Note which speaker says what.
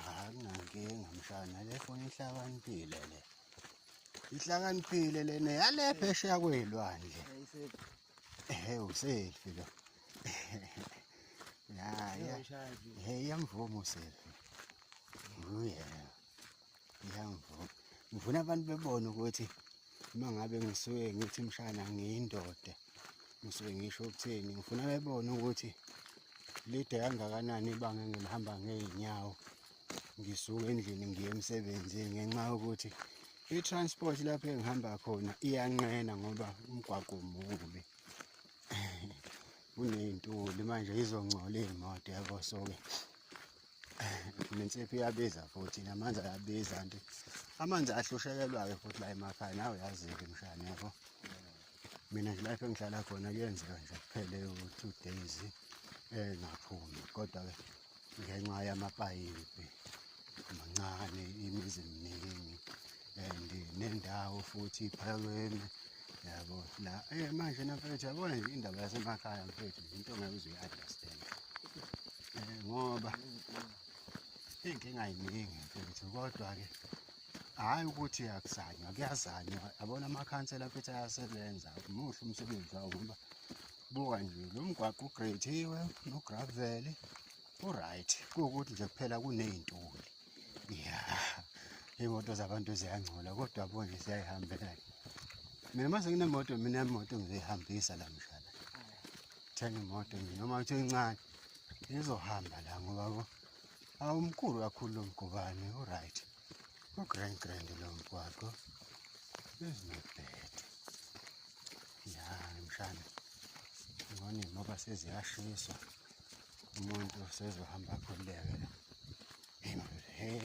Speaker 1: akunankinga mshana le foni ihlakaniphile le ihlakaniphile lena yale phesheya kwey'lwandle ehe uselfi lo ya ya he iyamvuma uselfi uyena ngiyangivuna ngivuna abantu bebone ukuthi uma ngabe ngisuke ngithi mshana ngiyindoda ngisuke ngisho ukuthini ngifuna bebone ukuthi lide kangakanani ibanga engilihamba ngey'nyawo ngisuke endlini ngiye emsebenzini ngenxa yokuthi i-transport lapho engihamba khona iyanqena ngoba umgwaqo mubi kuney'ntuli manje izongcola iy'moto yabo so-ke nensipho iyabiza futhi namanzi ayabiza nti amanzi ahlushekelwayo futhi la emakhaya nawe uyazi-ke mshana yabo mina nje lapho engihlala khona kuyenzeka nje kuphele u-two days engaphumi eh, kodwa-ke ngenxa yamapayipi mancane imizi miningi and nendawo futhi iphakeme yabo la eh manje namfethu yabona nje indaba yasemakhaya mfethu into ngeke uze uyi-understand um ngoba iy'nkinga yiningi mfethu kodwa-ke hhayi ukuthi akuzanywa kuyazanywa yabona amakhansela mfethu ayasebenza muhle umsebenzi wawo ngoba buka nje lo mgwaqo ugrediwe nograveli u-right kuwukuthi nje kuphela kuney'ntuli ya iy'moto zabantu ziyangcola kodwa bonje siyayihambela mina uma senginemoto mina imoto ngizoyihambisa la mshana thenga imoto nje noma kuthiwa incane izohamba la ngoba bo awumkhulu kakhulu lo mgobane uright ugrand grand lo mgwaqo ezinebhede ya mshana ngone ngoba seziyashiswa umuntu sezohamba akhululeke hey